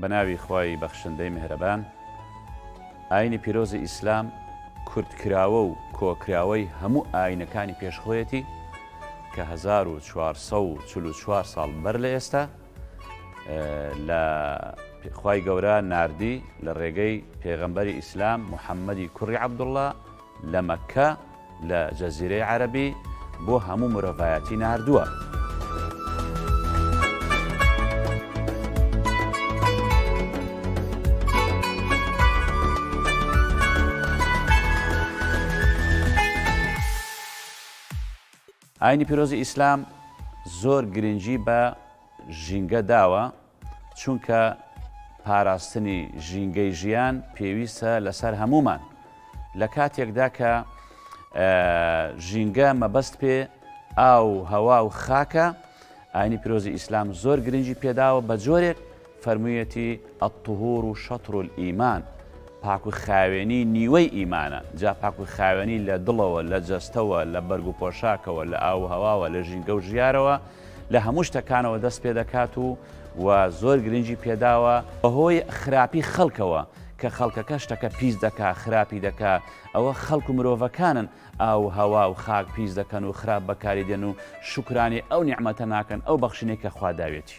بە ناوی خوای بەخشندەی مهرەبان ئاینی پیرۆزی ئیسلام کورتکراوە و کۆکراوەی هەموو ئاینەکانی پێشخۆیەتی کە 1444 ساڵ بەر لە ئێستا لە خوای گەورە ناردی لە ڕێگەی پێغەمبەری ئیسلام محەممەدی کوڕی عبدوڵە لە مەکە لە جەزیرەی عەربی بۆ هەموو مرۆڤایەتی نردووە. ئاینی پیرۆزی ئیسلام زۆر گرنگی بە ژینگە داوە، چونکە پاراستنی ژینگەی ژیان پێویستە لەسەر هەموومان، لە کاتێکدا کە ژینگە مەبەست پێ ئاو، هەوا و خاکە، ئاینی پیرۆزی ئیسلام زۆر گرنگی پێداوە بە جۆرێک، فەرموویەتی، الطهور شطر الایمان، پاک و خاوێنی نیوەی ئیمانە، جا پاک و خاوێنی لە دڵەوە، لە جەستەوە، لە بەرگ و پۆشاکەوە، لە ئاو و هەواوە، لە ژینگە و ژیارەوە، لە هەموو شتەکانەوە دەست پێ دەکات و و زۆر گرنگی پێ داوە، بەهۆی خراپی خەڵکەوە، کە خەڵکەکە شتەکە پیس دەکا، خراپی دەکا، ئەوە خەڵک و مرۆڤەکانن ئاو و هەوا و خاک پیس دەکەن و خراپ بەکاری دێن و شوکرانەی ئەو نیعمەتە ناکەن، ئەو بەخشینەی کە خوا داویەتی.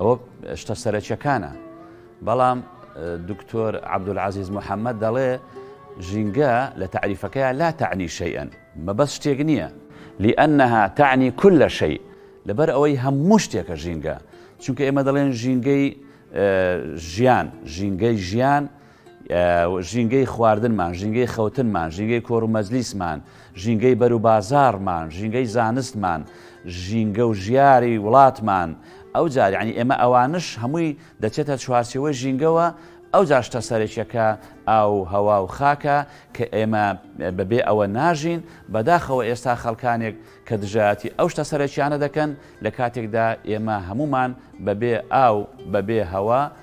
ئەوە شتە سەرەکیەکانە بەڵام دکتۆر عبدولعزیز محەممەد دەڵێ ژینگە لە تعریفەکەیان لا تەعنی شەیئەن مەبەست شتێک نییە لئەنها تەعنی کل لە شەی لەبەر ئەوەی هەموو شتێکە ژینگە چونکە ئێمە دەڵێن ژینگەی ژیان ژینگەی ژیان ژینگەی خواردنمان، ژینگەی خەوتنمان، ژینگەی کۆرومەجلیسمان، ژینگەی بەروبازاڕمان، ژینگەی زانستمان، ژینگە و ژیاری وڵاتمان، ئەوجار یعنی ئێمە ئەوانش هەمووی دەچێتە چوارچێوەی ژینگەوە، ئەوجار شتە سەرەکیەکە ئاو و هەوا و خاکە کە ئێمە بەبێ ئەوە ناژین، بەداخەوە ئێستا خەڵکانێک کە دژایەتی ئەو شتە سەرەکیانە دەکەن لەکاتێکدا ئێمە هەموومان بەبێ ئاو بەبێ هەوا،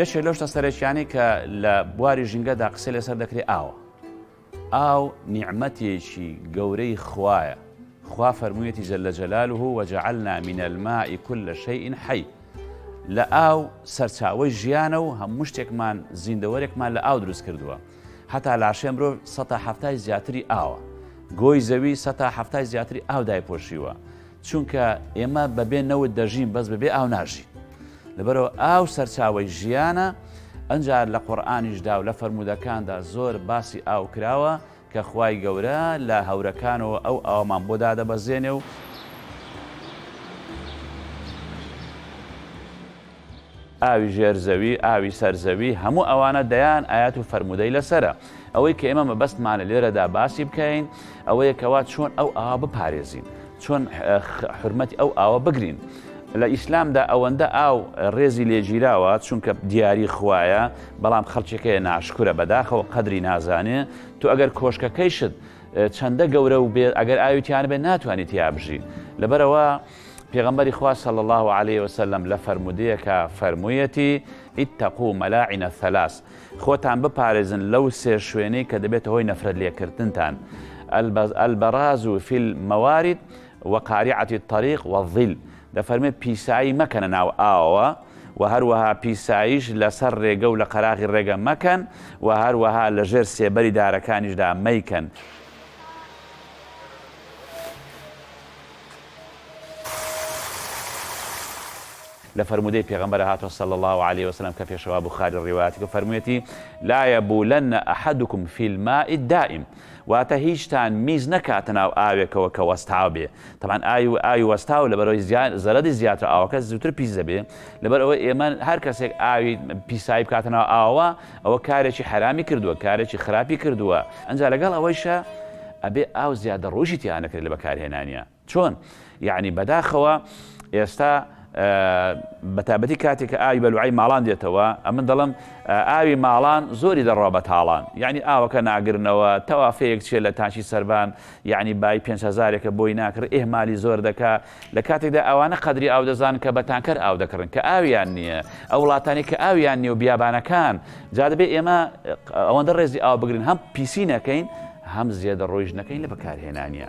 یەکێ لەو شتە سەرەکیانەی کە لە بواری ژینگەدا قسەی لەسەر دەکرێ ئاوە. ئاو نیعمەتێکی گەورەی خوایە، خوا فەرموویەتی جل جلاله وجعلنا من الماء کل شیء حی لە ئاو سەرچاوەی ژیانە و هەموو شتێکمان زیندەوەرێکمان لە ئاو دروست کردووە. هەتا لاشێ مرۆڤ سەتا هەفتای زیاتری ئاوە. گۆی زەوی سەتا هەفتای زیاتری ئاو دایپۆشیوە. چونکە ئێمە بەبێ نەوت دەژین بەس بەبێ ئاو ناژین لەبەرەوە ئاو سەرچاوی ژیانە ئەجار لە قۆرانیشدا و لە فەرمودەکاندا زۆر باسی ئاو کراوە کە خوای گەورە لە هەورەکانەوە ئەو ئاومان بۆ دادەبەزێنێ و ئاوی ژێر زەوی، ئاوی سەر زەوی، هەموو ئەوانە دەیان ئایەت و فەرموودەی لەسەرە. ئەوەی کە ئێمە مەبەستمانە لێرەدا باسی بکەین، ئەوەیە کەوا چۆن ئەو ئاوە بپارێزین، چۆن حورمەتی ئەو ئاوە بگرین. لە ئیسلامدا ئەوەندە ئاو ڕێزی لێگیراوە چونکە دیاری خوایە بەڵام خەڵکێکەیە ناشکرە بەداخەوە قەدری نازانێ تو ئەگەر کۆشکەکەیشت چەندە گەورە و بێت ئەگەر ئاویتیان بێت ناتوانێت یا بژی لەبەرەوە پێغەمبەری خوا صلی اللە علیە وسلم لە فەرموودەیەکا فەرموویەتی، اتقوا ملاعن الثلاث، خۆتان بپارێزن لەو سێ شوێنەی کە دەبێتە هۆی نەفرەت لێکردنتان، البراز فی الموارد وقارعة الطریق والظل، دەفەرمێت پیسایی مەکەنە ناو ئاوەوە، وە هەروەها پیساییش لەسەر ڕێگە و لە قەراغی ڕێگە مەکەن، وە هەروەها لە ژێر سێبەری دارەکانیشدا مەیکەن. لە فەرموودەی پێغەمبەرە هاتووە صلی اللە علیە وسلم کە پێشەوا بوخاری ڕیوایەتی کردووە فەرموویەتی، لا یبولن احدکم فی الماء الدایم، واتە هیچتان میز نەکاتە ناو ئاوێکەوە کە وەستاو بێ، تەبعەن ئاوی ئاوی وەستاو لەبەرئەوەی زیان زەرەدی زیاترە ئاوەکە زووتر پیس دەبێ، لەبەرئەوەی ئێمە هەرکەسێک ئاوی پیسایی بکاتە ناو ئاوەوە، ئەوە کارێکی حەرامی کردووە کارێکی خراپی کردووە ئەنجا لەگەڵ ئەوەیشا ئەبێ ئاو زیادە ڕۆژی تیا نەکرێت لە بەکارهێنانیا چۆن یەعنی بەداخەوە ئێستا بەتابەتی کاتێک کە ئاوی بەلوعی ماڵان دێتەوە ئەمن دەڵم ئاوی ماڵان زۆری دەڕوا بە تاڵان یعنی ئاوەکە ناگرنەوە تەوافەیەک چێ لە تاچی سەربان یعنی بای 5هزارێکە بۆی ناکرێت ئێمالی زۆر دەکا لە کاتێکدا ئەوانە قەدری ئاو دەزانن کە بە تانکەر ئاو دەکڕن کە ئاویان نییە، ئەو وڵاتانەی کە ئاویان نییە و بیابانەکان، جا دەبێت ئێمە ئەوەندە ڕێزی ئاو بگرین هەم پیسی نەکەین هەم زێدەڕۆیش نەکەین لە بەکارهێنانیە.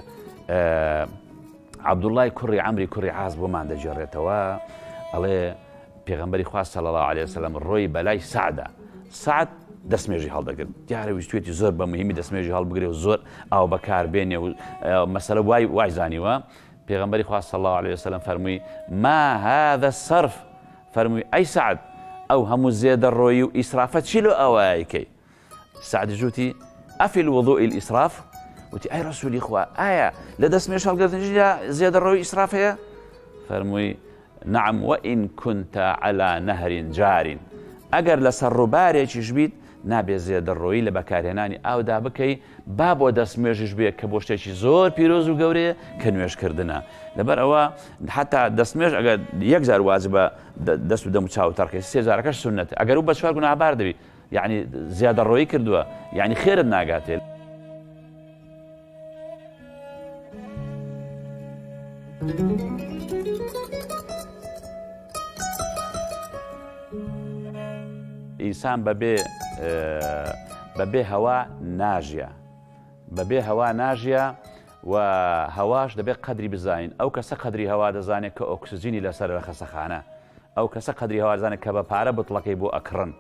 عەبدوڵای کوڕی ئەمری کوڕی عاز بۆمان دەگێڕێتەوە ئەڵێ پێغمبەری خوا صلی الله عليه وسلم ڕۆی بەلای سعدا سعد دەستمێژی هەڵدەگرت دیارە ویستێتی زۆر بە مهمی دەستمێژی هەڵبگرێ و زۆر ئاو بەکار بێنێ و مەسەرە وای وایزانیوە پێغەمبەری خوا صلی اللە علیە وسلم فەرمووی، ما هذا الصرف، فەرمووی، ئەی سەعد ئەو هەموو زێدەڕۆیی و ئیسرافە چی لۆ ئەوە ئەیکەی؟ سەعدیش وتی، ئەفی الوضوء الاسراف؟ وتی، ئەی ڕەسوولی خوا ئایا لە دەستنوێژ هەڵگرتنیشدا زێدەڕۆیی و ئیسراف هەیە؟ فەرمووی، نعم وان کنت علی نهر جار ئەگەر لەسەر ڕووبارێکیش بیت نابێت زێدەڕۆیی لە بەکارهێنانی ئاودا بکەی با بۆ دەست نوێژیش بێت کە بۆ شتێکی زۆر پیرۆز و گەورەیە کە نوێژکردنە لەبەر ئەوە حتا دەست نوێژ ئەگە یەک جار واجبە دەست و دەم و چاو تەرقی سێجارەکەش سنت ئەگەر و بە چوار گوناهبار دەبی یعنی زیادەڕۆیی کردووە یعنی خێرت ناگاتێت. ئینسان بەبێ بەبێ هەوا ناژە بەبێ هەوا ناژە و هەواش دەبێت قەدری بزانین ئەو کەسە قەدری هەوا دەزانێت کە ئۆکسسیجینی لەسەر رە خەسەخانە ئەو کەسە قەدری هەوازانە کە بە پارە بتڵەکەی بۆ ئەکڕن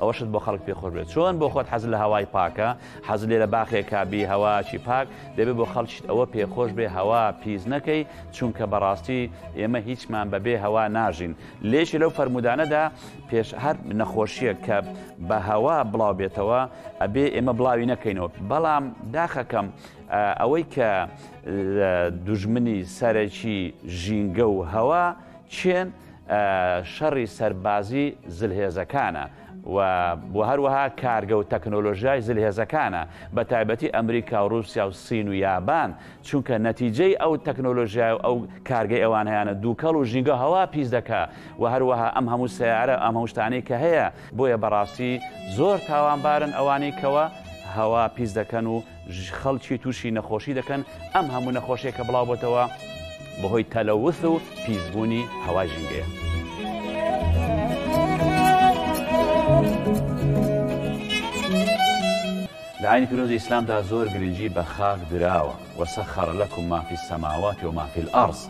ئەوەشت بۆ خەڵک پێ خۆش بێت چۆن بۆ خۆت حەز لە هەوای پاکە حەز لێ لە باخێکا بی هەواکی پاک دەبێت بۆ خەڵکیت ئەوە پێ خۆش بێ هەوا پیس نەکەی چونکە بەڕاستی ئێمە هیچمان بەبێ هەوا ناژین لێکی لەو فەرمودانەدا پێش هەر نەخۆشیە کە بە هەوا بڵاو بێتەوە ئەبێ ئێمە بڵاوی نەکەینەوە بەڵام داخەکەم ئەوەی کە دوژمنی سەرەکی ژینگە و هەوا چێن شەڕی سەربازی زلهێزەکانە و بۆ هەروەها کارگە و تەکنۆلۆژیای زلهێزەکانە بە تایبەتی ئەمریکا و رووسیا و سین و یابان چونکە نەتیجەی ئەو تەکنۆلۆژیای و ئەو کارگەی ئەوان هەیانە دووکەڵ و ژینگە هەوا پیس دەکا و هەروەها ئەم هەموو سیارە ئەم هەموشتانەی کە هەیە بۆیە بەڕاستی زۆر تاوانبارن ئەوانەی کەوە هەوا پیس دەکەن و خەڵکی تووشی نەخۆشی دەکەن ئەم هەموو نەخۆشیە کە بڵاو بۆتەوە بەهۆی تەلەوث و پیسبوونی هەوا ژینگەیە. لەعینی پیرۆزی ئیسلامدا زۆر گرنگی بە خاک دراوە وەسەخەڕ لەکم مافی سەماواتی و مافی ئەڕز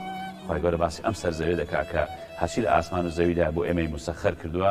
خی گەورە باسی ئەم سەر زەوێ دەکا کە هەرچی لە ئاسمان و زەویدا بۆ ئێمەی مسەخەر کردووە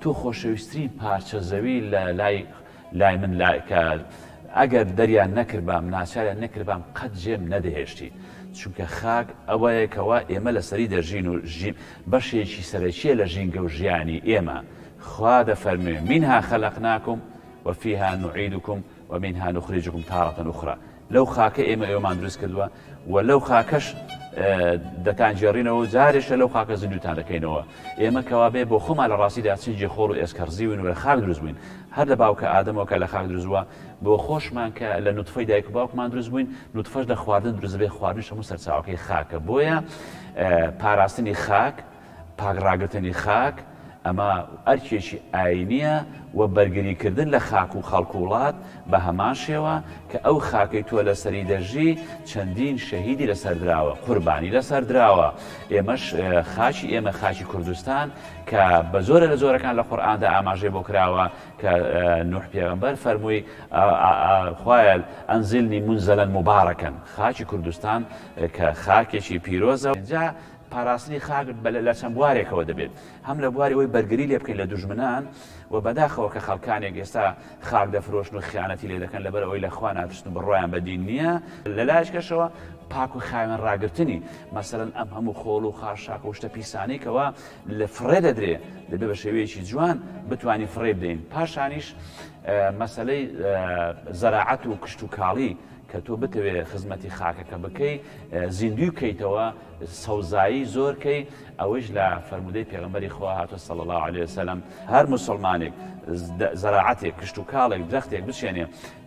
تۆ خۆشەویسترین پارچە زەوی لە لای لای من لا کە ئەگەر دەریان نەکردبام ناچاریان نەکردبام قەت جێم نەدەهێشتی چونکە خاک ئەوەیە کەوا ئێمە لەسەری دەژین و ژی بەشێکی سەرەکیە لە ژینگە و ژیانی ئێمە خوا دەفەرموێ مینها خەلەقناکم وفیها نعیدکم ومنها نخرجکم تارە اخری لەو خاکە ئێمە ئێوەمان دروست کردووە و لەو خاکەش دەتانگێڕینەوە و جارێشە لەو خاکە زیندوتان دەکەینەوە ئێمە کەوابێ بۆ خۆمان لە ڕاستیدا چنجی خۆڵ و ئێسکەڕزیون و لە خاک دروست بووین هەر لە باوکە ئادەمەوە کە لە خاک دروستوە بۆ خۆشمان کە لە نوتفەی دایک و باوکمان دروست بووین نوتفەش لە خواردن دروست بێ خواردنش هەموو سەرچاوەکەی خاکە بۆیە پاراستنی خاک پاک ڕاگرتنی خاک، ئەمە ئەرکێکی ئایینییە و بەرگریکردن لە خاک و خەڵک و وڵات، بە هەمان شێوە کە ئەو خاکەی تۆ لەسەری دەژی، چەندین شەهیدی لەسەر دراوە، قوربانی لەسەر دراوە. ئێمەش خاکی ئێمە، خاکی کوردستان کە بە جۆرە لە جۆرەکان لە قورئاندا ئاماژەی بۆ کراوە کە نوح پێغەمبەر فەرمووی، خوایە ئەنزلنی منزلا مبارکا، خاکی کوردستان کە خاکێکی پیرۆزە، ئینجا پاراستنی خاک لە چەند بوارێکەوە دەبێت، هەم لە بواری ئەوەی بەرگری لێ بکەین لە دوژمنان و بەداخەوە کە خەڵکانێک ئێستا خاک دەفرۆشن و خیانەتی لێ دەکەن لەبەر ئەوەی لە خوا ناترسن و بڕوایان بە دین نییە، لە لایەکەشەوە پاک و خاوێن ڕاگرتنی، مەسەلەن ئەم هەموو خۆڵ و خاشاک و شتە پیسانەی کەوا لە فڕێ دەدرێ دەبێ بە شێوەیەکی جوان بتوانین فڕێی بدەین، پاشانیش مەسەلەی زەراعەت و کشتوکاڵی کە تۆ بتەوێ خزمەتی خاکەکە بکەی زیندووی بکەیتەوە سەوزایی زۆر کەی ئەوەیش لە فەرموودەی پێغەمبەری خوا هاتووە صلی اللە علیە و سلم، هەر موسڵمانێک زەراعەتێک، کشتوکاڵێک، درەختێک بچێنێ،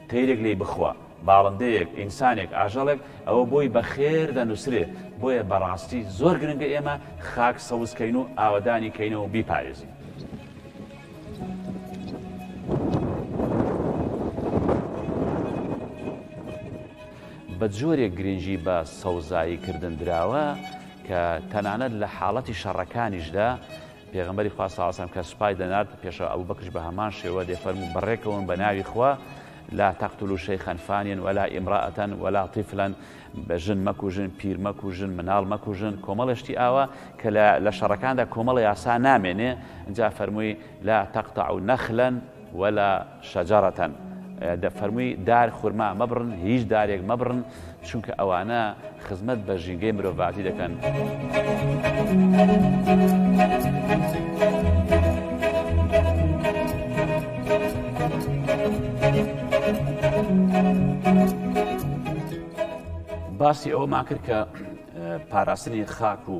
تەیرێک لێی بخوا، باڵندەیەک، ئینسانێک، ئاژەڵێک، ئەوە بۆی بە خێر دەنووسرێ، بۆیە بە ڕاستی زۆر گرنگە ئێمە خاک سەوز کەین و ئاوەدانی کەینەوە و بیپارێزین. بە جۆرێک گرنگی بە سەوزایی کردن دراوە کە تەنانەت لە حاڵەتی شەڕەکانیشدا پێغمبەری خوا ساسم کە سوپای دەنارد پێشە ئەو بەکش بە هەمان شێوە دێ فەرمو و بەڕێکەوەن بە ناوی خوا لا تەقتل و شەیخەنفانیان وەلا ئیمرائەتەن وەلا تیفلەن بە ژن مەکوژن پیر مەکوژن مناڵ مەکوژن کۆمەڵشتی ئاوا کە لە شەڕەکاندا کۆمەڵی یاسا نامێنێ جا فەرمووی لا تەقتە و نەخلەن وەلا شجرة، دە فەرمووی دار خورما مەبڕن، هیچ دارێک مەبڕن، چونکە ئەوانە خزمەت بە ژینگەی مرۆڤاتی دەکەن. باسی ئەوەمان کرد کە پاراستنی خاک و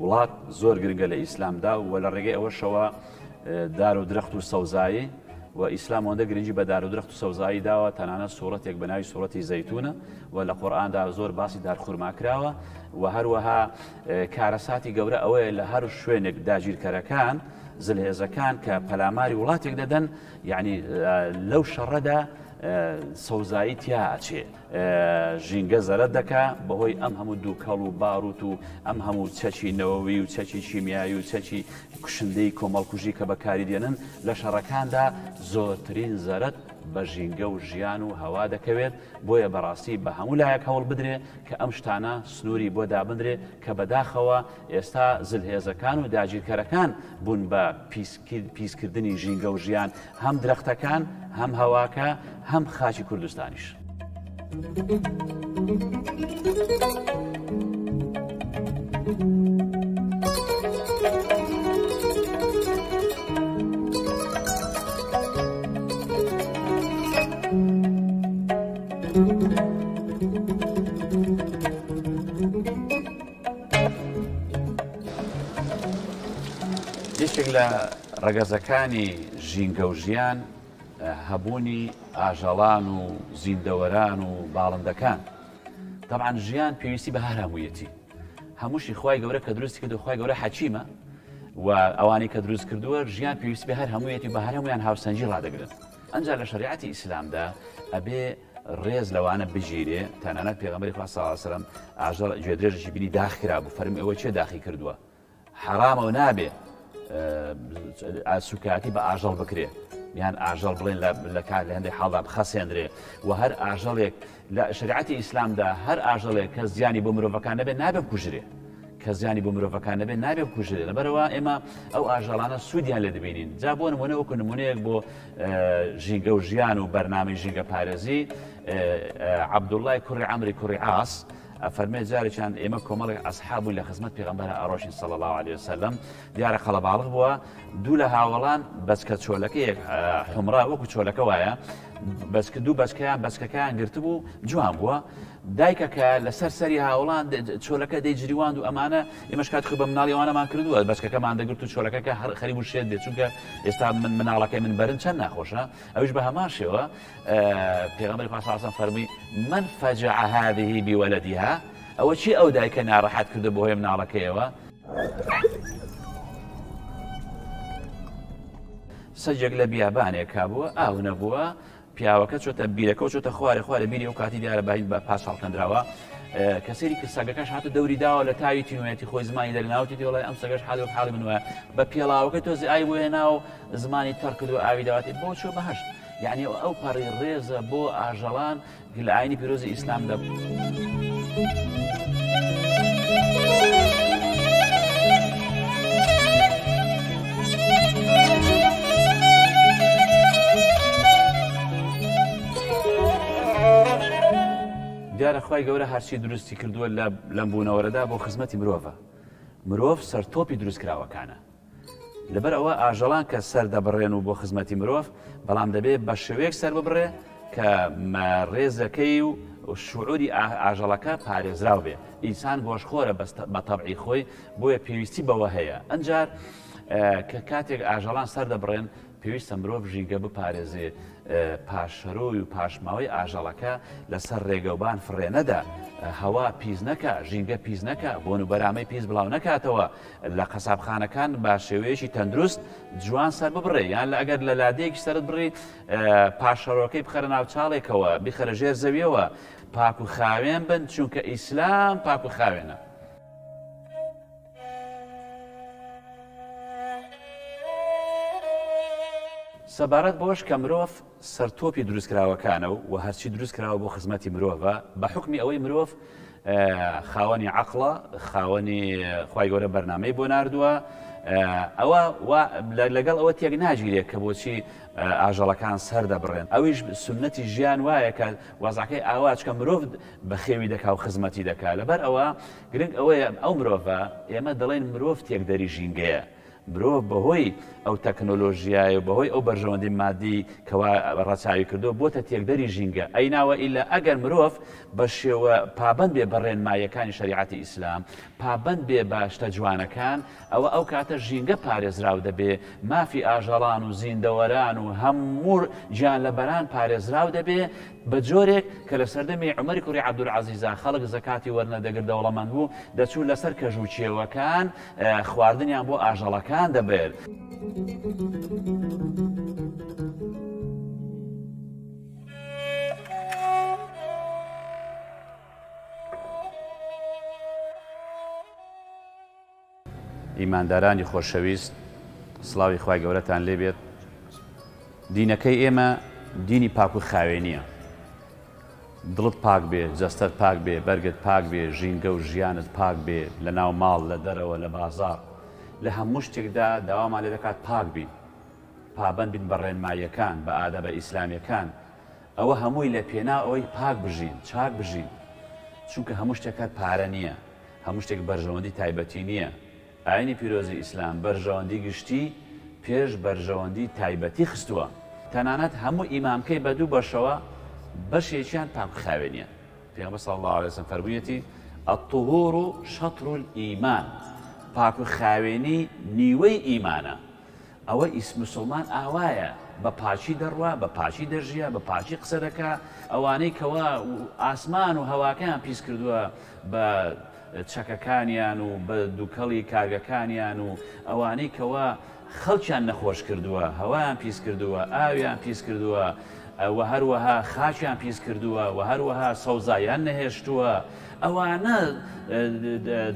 وڵات زۆر گرنگە لە ئیسلامدا و لە ڕێگەی ئەوەشەوە، دار و درەخت و سەوزایی، وە ئیسلام ئەوەندە گرنگی بە دار و درەخت و سەوزایی داوە تەنانەت سوڕەتێک بە ناوی سوڕەتی زەیتونە وە لە قورئاندا زۆر باسی دار خورما کراوە وە هەروەها کارەساتی گەورە ئەوەیە لە هەر شوێنێک داگیرکەرەکان زلهێزەکان کە پەلاماری وڵاتێک دەدەن یعنی لەو شەڕەدا سەوزایی تیا ئەچێ ژینگە زەرەر دەکا بەهۆی ئەم هەموو دووکەڵ و باروت و ئەم هەموو چەکی نەوەوی و چەکی چیمیایی و چەکی کوشندەی کۆمەڵکوژی کە بەکاری دێنن لە شەڕەکاندا زۆرترین زەرت بە ژینگە و ژیان و هەوا دەکەوێت بۆیە بەڕاستی بە هەموو لایەک هەوڵ بدرێ کە ئەم شتانە سنووری بۆ دابدرێ کە بەداخەوە ئێستا زلهێزەکان و داگیرکەرەکان بوون بە پیس پیسکردنی ژینگە و ژیان هەم درەختەکان هەم هەواکە هەم خاچی کوردستانیش. یەکێک لە ڕەگەزەکانی ژینگە و ژیان هەبوونی ئاژەڵان و زیندەوەران و باڵندەکان طبعاان ژیان پێویستی بە هەرامویەتی هەمووشی خی گەورە کە دروستی کە دخوای گەورە حەچیمە و ئەوانەی کە دروست کردووە ژیان پێویستی بە هەر هەموویەتی بە هەرمویان هاوسەنجی ڕدەگرن ئەجا لە شریعەتی ئیسلامدا ئەبێ ڕێز لەوانە بگیرێ تەنانەت پێغەمبەری خوا صلی اللە علیە و سلم ئاژەڵ گوێدرێژێکی بینی داخ کرابوو فەرمی ئەوە چێ داخی کردووە حەرامە و نابێ سوکایەتی بە ئاژەڵ بکرێ یان ئاژەڵ بڵێن لە کار لە هەندێک حاڵدا بخەسێندرێ و هەر ئاژەڵێک لە شریعەتی ئیسلامدا هەر ئاژەڵێک کە زیانی بۆ مرۆڤەکان نەبێت نابێ بکوژرێ کە زیانی بۆ مرۆڤەکان نەبێت نابێت بکوژرێت لەبەرئەوە ئێمە ئەو ئاژەڵانە سوودیان لێ دەبینین جا بۆ نمونە وەکو نمونەیەک بۆ ژینگە و ژیان و بەرنامەی ژینگە پارێزی عەبدوڵای کوڕی ئەمری کوڕی ئاس فەرمێ جارێکیان ئێمە کۆمەڵێک ئەسحابووین لە خزمەت پێغمبەر ئەڕۆشین سەڵ الله عليه وسلم دیارە قەڵەباڵغ بووە دوو لە هاوڵان بەسکە چۆلەکەیەک حمرا وەکو چۆلەکە وایە بەسکە دوو بەسکەیان بەسکەکەیان گرتبوو جوان بووە دایکەکە لەسەر سەری هاوڵان چۆلەکە دەی جریواند و ئەمانە ئێمەش کاتی خۆی بە مناڵی ئەوانەمان کردووە بەچکەکەمان دەگرت و چۆلەکەکە هەر خەری بوو شێت بێت چونکە ئێستا من مناڵەکەی من بەرن چەند ناخۆشە ئەوش بە هەمان شێوە پێغەمبەری خوا ساسم فەرمووی من فەجع هذه بولدها ئەوە چی ئەو دایکە ناڕەحەت کردو بەهۆی مناڵەکەیەوە سەجێک لە بیابانێکا بووە ئاو نەبووە پیاوەکە چۆتە بیرەکەو چۆتە خوارێ خوارێ بیری ئەو کاتی دیارە بای بە پاس هەڵکەندراوە کە سەیری کرد سەگەکەش هاتە دەوری داوە لە تاوی تینوێتی خۆی زمانی دەرناوتی دیڵی ئەم سەگەش حالی وەک حاڵی من وایە بە پێڵاوەکە تۆزی ئای بۆ هێنا و زمانی تەڕکرد و ئاوی داواتی بۆ چۆ بەهشت یعنی ئەو پەڕی ڕێزە بۆ ئاژەڵان گل ئاینی پیرۆزی ئیسلام دەبوو. دیارە خوای گەورە هەرچی دروستی کردووە لە لەم بوونەوەرەدا بۆ خزمەتی مرۆڤە مرۆڤ سەرتۆپی دروستکراوەکانە لەبەر ئەوە ئاژەڵان کە سەر دەبڕێن و بۆ خزمەتی مرۆڤ بەڵام دەبێت بە شێوەیەک سەر ببڕێ کە ڕێزەکەی و شعوری ئاژەڵەکە پارێزراو بێ ئینسان گۆشخۆرە بەستە بە تەبعی خۆی بۆیە پێویستی بەوە هەیە ئەنجار کە کاتێک ئاژەڵان سەردەبڕێن پێویستە مرۆڤ ژینگە بپارێزێ پاشەرۆی و پاشماوەی ئاژەڵەکە لەسەر ڕێگەوبان فڕێنەدا هەوا پیس نەکە ژینگە پیس نەکە بۆن و بەرامەی پیس بڵاو نەکاتەوە لە قەسابخانەکان با شێوەیەکی تەندروست جوان سەر ببڕێ یان لە ئەگەر لە لادەیەکی سرت بڕی پاشەرۆکەی بخەرە ناو چاڵێکەوە بخەرە ژێر زەویەوە پاک و خاوێن بن چونکە ئیسلام پاک و خاوێنە. سەبارەت بەوەش کە مرۆڤ سەرتۆپی دروستکراوەکانە و و هەرچی دروستکراوە بۆ خزمەتی مرۆڤە، بە حوکمی ئەوەی مرۆڤ خاوەنی عەقڵە، خاوەنی خوای گەورە بەرنامەی بۆ ناردووە، ئەوە وا لەگەڵ ئەوە تێک ناگیرێت کە بۆچی ئاژەڵەکان سەردەبڕێن، ئەویش سوننەتی ژیان وایە کە وەزعەکەی ئاوا چکە مرۆڤ بەخێوی دەکا و خزمەتی دەکا. لەبەر ئەوە گرنگ ئەوەیە ئەو مرۆڤە، ئێمە دەڵێین مرۆڤ تێکدەری ژینگەیە، مرۆڤ بەهۆی ئەو تەکنۆلۆژیای و بەهۆی ئەو بەرژەوەندی مادی کەوا ڕەچاوی کردووە بۆتە تێکدەری ژینگە ئەی ناوە ئیلا ئەگەر مرۆڤ بە شێوە پابەند بێ بە ڕێنماییەکانی شەریعەتی ئیسلام پابەند بێ بە شتە جوانەکان ئەوە ئەو کاتە ژینگە پارێزراو دەبێ، مافی ئاژەڵان و زیندەوەران و هەموو گیانلەبەران پارێزراو دەبێ، بە جۆرێک کە لە سەردەمی عومەری کوڕی عەبدولعەزیزا خەڵک زەکاتی وەرنەدەگرت دەوڵەمەند بوو، دەچوو لەسەر کەژ و کێوەکان خواردنیان بۆ ئاژەڵەکان دەبرد. ئیماندارانی خۆشەویست سڵاوی خوای گەورەتان لێبێت دینەکەی ئێمە دینی پاک و خاوێنیە دڵت پاک بێ جەستەت پاک بێ بەرگت پاک بێ ژینگە و ژیانت پاک بێ لە ناو ماڵ لە دەرەوە لە بازار لە هەموو شتێکدا داوامان لێ دەکات پاک بین پابند بین بە ڕێنماییەکان بە ئادە بە ئیسلامیەکان ئەوە هەمووی لە پێنا ئەوەی پاک بژین چاک بژین چونکە هەموو شتێکات پارە نییە هەموو شتێک بەرژەوەندی تایبەتی نییە، ئایینی پیرۆزی ئیسلام بەرژەوەندی گشتی پێش بەرژەوەندی تایبەتی خستووە، تەنانەت هەموو ئیمامکەی بە دوو بەشەوە بەشێکیان پاک و خاوێنیە، پێغەمبەر صلی اللە علیە وسلم فەرموویەتی، الطهور شطر الایمان، پاک و خاوێنی نیوەی ئیمانە، ئەوە ی مسوڵمان ئاوایە بە پاکی دەڕوا بە پاکی دەژیا بە پاکی قسە دەکا ئەوانەی کەوا ئاسمان و هەواکەیان پیس کردووە بە چەکەکانیان و بە دووکەڵی کارگەکانیان و ئەوانەی کەوا خەڵکیان نەخۆش کردووە هەوایان پیس کردووە ئاویان پیس کردووە وە هەروەها خاچیان پیس کردووە وە هەروەها سەوزایان نەهێشتووە ئەوانە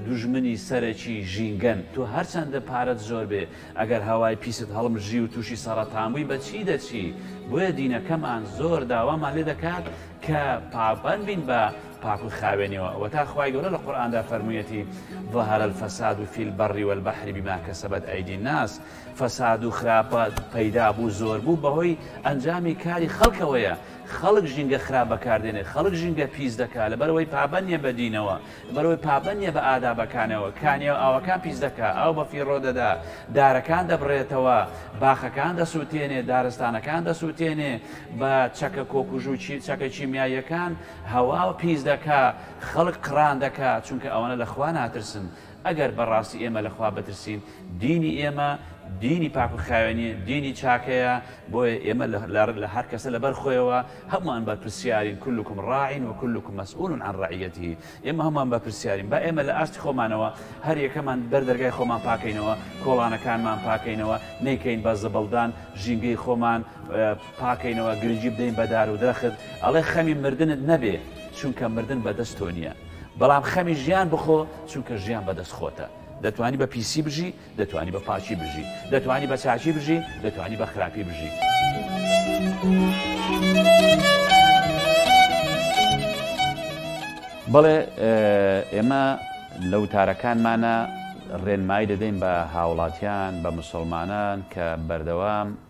دوژمنی سەرەکی ژینگەن، تۆ هەرچەندە پارەت زۆر بێ ئەگەر هەوای پیست هەڵمژی و تووشی سەڕەتان بووی بە چی دەچی؟ بۆیە دینەکەمان زۆر داوامان لێ دەکات کە پابەند بین بە پاک و خاوێنیەوە ئەوەتا خوای گەورە لە قورئاندا فەرموویەتی، ظهر الفساد فی البر والبحر بما کسبت ایدی الناس فساد و خراپە پەیدا بوو زۆر بوو بەهۆی ئەنجامی کاری خەڵکەوەیە خەڵک ژینگە خراپ بەکاردێنێت، خەڵک ژینگە پیس دەکات، لەبەرئەوەی پابەند نییە بە دینەوە، لەبەرئەوەی پابەند نییە بە ئادابەکانەوە، کانیاو ئاوەکان پیس دەکات، ئاو بەفیڕۆ دەدات، دارەکان دەبڕێتەوە، باخەکان دەسووتێنێت، دارستانەکان دەسووتێنێت، بە چەکە کۆکوژو چەکە کیمیاییەکان هەوا پیس دەکات، خەڵک قڕان دەکات، چونکە ئەوانە لە خوا ناترسن، ئەگەر بە ڕاستی ئێمە لە خوا بترسین، دینی ئێمە دینی پاک و خاوێنی دینی چاکەیە، بۆیە ئێمە لە هەر کەسە لە بەر خۆیەوە هەمووان بەرپرسیارین، کلکم ڕاع و کلکم مسئول عن رعیته، ئێمە هەمووان بەرپرسیارین، با ئێمە لە ئاستی خۆمانەوە هەر یەکەمان بەر دەرگای خۆمان پاکەینەوە، کۆڵانەکانمان پاکەینەوە، نەیکەین بە زبڵدان، ژینگەی خۆمان پاکەینەوە، گرنگی بدەین بە دار و درەخت، ئەڵێ خەمی مردنت نەبێ، چونکە مردن بە دەست تۆ نییە. بەڵام خەمی ژیان بخۆ چونکە ژیان بەدەست خۆتە دەتوانی بە پیسی بژی دەتوانی بە پاچی بژی دەتوانی بە چاچی بژی دەتوانی بە خراپی بژی. بەڵێ ئێمە لە وتارەکانمانە ڕێنمایی دەدەین بە هاوڵاتیان بە مسلمانان کە بەردەوام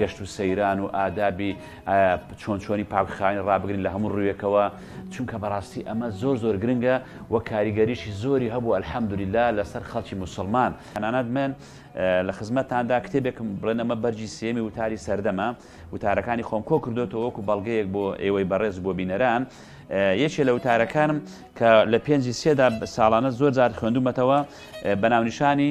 گەشت و سەیران و ئادابی چۆن چۆنی پاکخانی ڕابگرین لە هەموو ڕوویەکەوە چونکە بەڕاستی ئەمە زۆر زۆر گرنگە و کاریگەریشی زۆری هەبوو ئەلحەمدولیلا لەسەر خەڵکی مسلمان هەنانات من لە خزمەتاندا کتێبێکم بڵێن ئەمە بەرجی سێمی وتاری سەردەمە وتارەکانی خۆم کۆ کردوێتەوە وەکو بەڵگەیەک بۆ ئێوەی بەڕێز بۆ بینەران یەکێ لە وتارەکانم کە لە پێنجی سێدا ساڵانە زۆر زار خوێندومەتەوە بەناونیشانی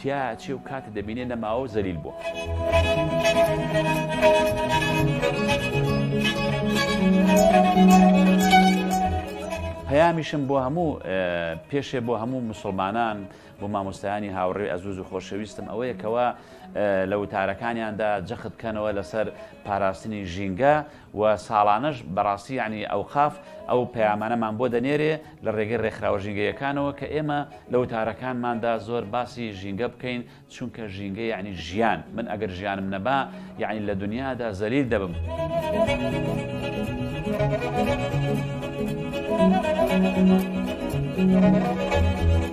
تیا ئەچێ و کاتی دەبینێ نەماوە و زەلیل بووە. پەیامیشم بۆ هەموو پێشێ بۆ هەموو مسلمانان بۆ مامۆستایانی هاوڕێ ئەزوز و خۆشەویستم ئەوەیەکەوە لە وتارەکانیاندا جەخت بکەنەوە لەسەر پاراستنی ژینگە و ساڵانەش بەڕاستی یەعنی ئەوقاف ئەو پەیامانەمان بۆ دەنێرێ لە ڕێگەی ڕێکخراوە ژینگەیەکانەوە کە ئێمە لە وتارەکانماندا زۆر باسی ژینگە بکەین چونکە ژینگە یەعنی ژیان من ئەگەر ژیانم نەبا یەعنی لە دنیادا زەلیل دەبم. Thank you.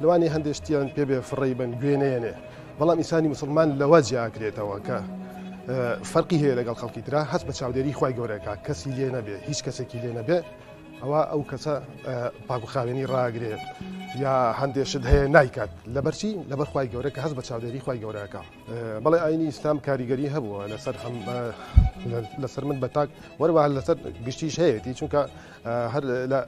لەوانەیە هەندێ شتیان پێ بێ فڕێی بن گوێ نەیەنێ بەڵام ئینسانی مسلمان لەوە جیاکرێتەوە کە فەرقی هەیە لەگەڵ خەڵکی تررا هەست بە چاودێری خی گەورەکە کەسی لێ نەبێ هیچ کەسێکی لێ نەبێ ئەوە ئەو کەسە پاکوخاوێنی ڕاگرێت یا هەندێشت هەیە نایکات لەبەرچی لەبەر خی گەورە کە هەست بە چاودێری خی گەورەکە بەڵێ ئاینی ئیسلام کاریگەری هەبووە لەسەر هەم لەسەر من بە تاک وەروە لەسەر گشتیش هەیەی چونکە هەر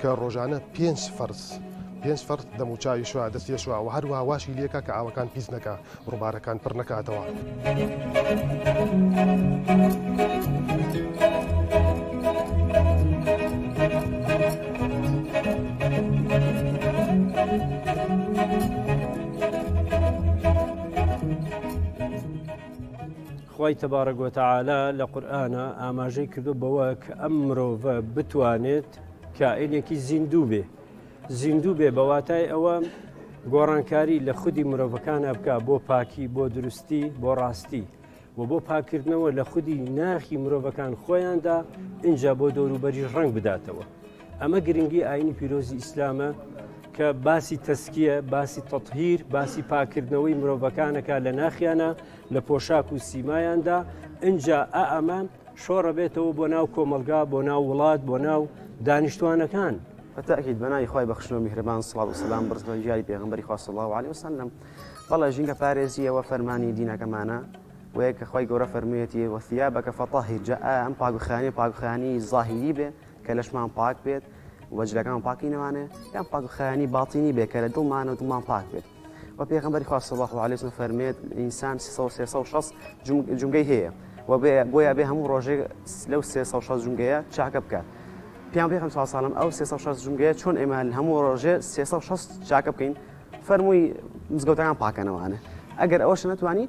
کە ڕۆژانە پێنج فەرز پێنج فەرز دەموچاوی شووا دەستێ شووا و هەروە واشی لێکە کە ئاوەکان پیس نەکە ڕووبارەکان پڕ نەکاتەوە. خی تەبارەگوۆتەعاالە لە قورآە ئاماژەی کردو بەوە کە ئەم مرۆڤە بتوانێت کائینێکی زیندوو بێ زیندوو بێ بە واتای ئەوە گۆڕانکاری لە خودی مرۆڤەکانە بکە بۆ پاکی بۆ دروستی بۆ ڕاستی و بۆ پاکردنەوە لە خودی ناخی مرۆڤەکان خۆیاندا اینجا بۆ دەوروبەری ڕنگ بداتەوە ئەمە گرنگی ئاینی پیرۆزی ئیسلامە کە باسی تەسکیە باسی تەطهیر باسی پاکردنەوەی مرۆڤەکانەکە لە ناخیانە لە پۆشاک و سیمایاندا ئەجا ئا ئەمان شۆڕە بێتەوە بۆ ناو کۆمەلگا بۆ ناو وڵات بۆ ناو دانیشتوانەکان. بەتاکید بەناوی خوای بەخشن و میهرەبان سڵاو و سەلام بڕزگە و ژیاری پێغەمبەری خوا صلی اللە علیە وسلم بەڵێ ژینگە پارێزییەوە فەرمانی دینەکەمانە وەیەک کە خوای گەورە فەرموویەتی وەثیابەکە فەطهر جا ئایا ئەم پاکوخانی پاکوخانی زاهیری بێ کە لەشمان پاک بێت وەجلەکان پاکی نەوانێ یان پاکوخانی باتینی بێ کە لە دڵمانە و دڵمان پاک بێت وە پێغەمبەری خوا صلی اللە علیە و فەرمێت ئینسان 360 جمگەی هەیە و بۆیە بێ هەموو ڕۆژێک لەو 360 جمگەیە چاکە بکات پیان پێخم ساساڵم ئەو 360 جمگەیە چۆن ئێمە هەموو ڕۆژێ 360 چاکە بکەین فەرمووی مزگەوتەکان پاکەنەوانە ئەگەر ئەوش نتوانانی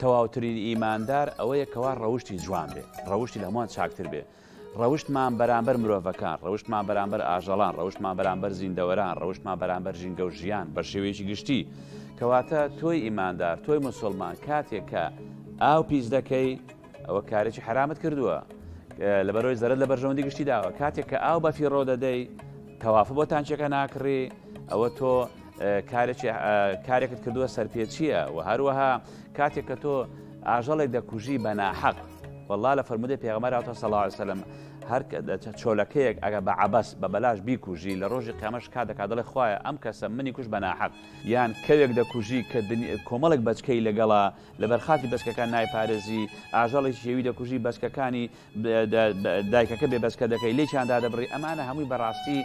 تەواوترین ئیماندار ئەوەیە کەوا ڕەوشتی جوان بێ ڕەوشتی لە هەمووان چاکتر بێ ڕەوشتمان بەرامبەر مرۆڤەکان ڕەوشتمان بەرامبەر ئاژەڵان ڕەوشتمان بەرامبەر زیندەوەران ڕەوشتمان بەرامبەر ژینگە و ژیان بە شێوەیەکی گشتی کەواتە تۆی ئیماندار تۆی مسلمان کاتێک کە ئاو پیس دەکەی ئەوە کارێکی حرامت کردووە لەبەرەوەی زەرت لە بەرژەوەندی گشتی داوە کاتێک کە ئاو بەفیڕۆ دەدەی تەوافە بۆ تانچەکە ناکڕی ئەوە تۆ کارێکت کردووە سەرپێچیە و هەروەها کاتێک کە تۆ ئاژەڵێک دەکوژی بە ناحەق والله لە فرمودە پێغمەراتە سەڵاوسلم هەر چۆلەکەیەک ئەگە بە عبەس بە بەلاش بیکوژی لە ڕۆژی قەمەش کا دەکات دڵێ خخوایە ئەم کەسە منی کوش بە ناحەق یان کەوێک دەکوژی کە کۆمەڵێک بەچکەی لەگەڵا لەبەرخاتی بەچکەکان نایپارێزی ئاژەڵێکی یەوی دەکوژی بەچکەکانی دایکەکە بێ بەس کە دەکەی لێ چیان دادەبڕی ئەمانە هەمووی بەڕاستی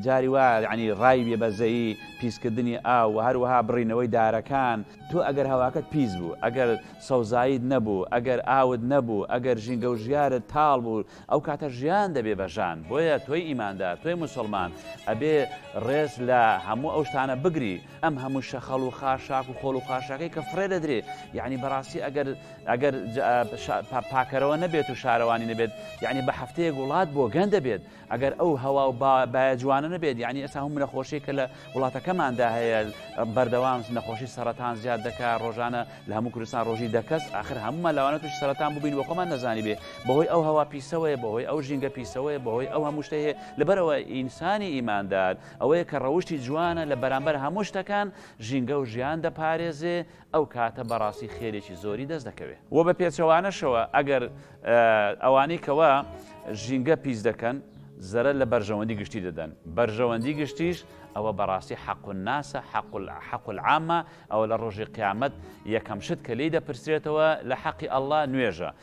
جاری وا یعنی ڕای بێ بەزەیی پیسکردنی ئاو و هەروەها بڕینەوەی دارەکان تۆ ئەگەر هەواکەت پیس بوو ئەگەر سەوزاییت نەبوو ئەگەر ئاوت نەبوو ئەگەر ژینگە و ژیارت تاڵ بوو ئەو کاتە ژیان دەبێ بە ژان بۆیە تۆی ئیماندار تۆی موسڵمان ئەبێ ڕێز لە هەموو ئەو شتانە بگری ئەم هەموو شەخەڵ و خاشاک و خۆڵ و خاشاکەی کە فڕێ دەدرێ یعنی بەڕاستی ئەگەر ئەگەر پاکەرەوە نەبێت و شارەوانی نەبێت یعنی بە هەفتەیەک وڵات بۆ گەن دەبێت ئەگەر ئەو هەوا و باە جوانە نەبێت یعنی ئێستا هەم نەخۆشی کە لە وڵاتەکەماندا هەیە بەردەوام نەخۆشی سەرەتان زیاد دەکا ڕۆژانە لە هەموو کوردستان ڕۆژی دەکەس آخر هەموو مەلاوانە توش سەرەتان ببین بۆ خۆمان نەزانی بێ بەهۆی ئەو هەوا پیسەوەیە بەهۆی ئەو ژینگە پیسەوەیە بەهۆی ئەو هەموو شتەیە لەبەرەوە ئینسانی ئیماندار ئەوەیە کە ڕەوشتی جوانە لە بەرامبەر هەموو شتەکان ژینگە و ژیان دەپارێزێ، ئەو کاتە بەڕاستی خێرێکی زۆری دەست دەکەوێ. وە بە پێچەوانەشەوە ئەگەر ئەوانەی کەوا ژینگە پیس دەکەن زەرەر لە بەرژەوەندی گشتی دەدەن، بەرژەوەندی گشتیش ئەوە بەڕاستی حق الناسە، حق العامە، ئەوە لە ڕۆژی قیامەت یەکەم شت کە لێی دەپرسرێتەوە لە حەقی اللە نوێژە،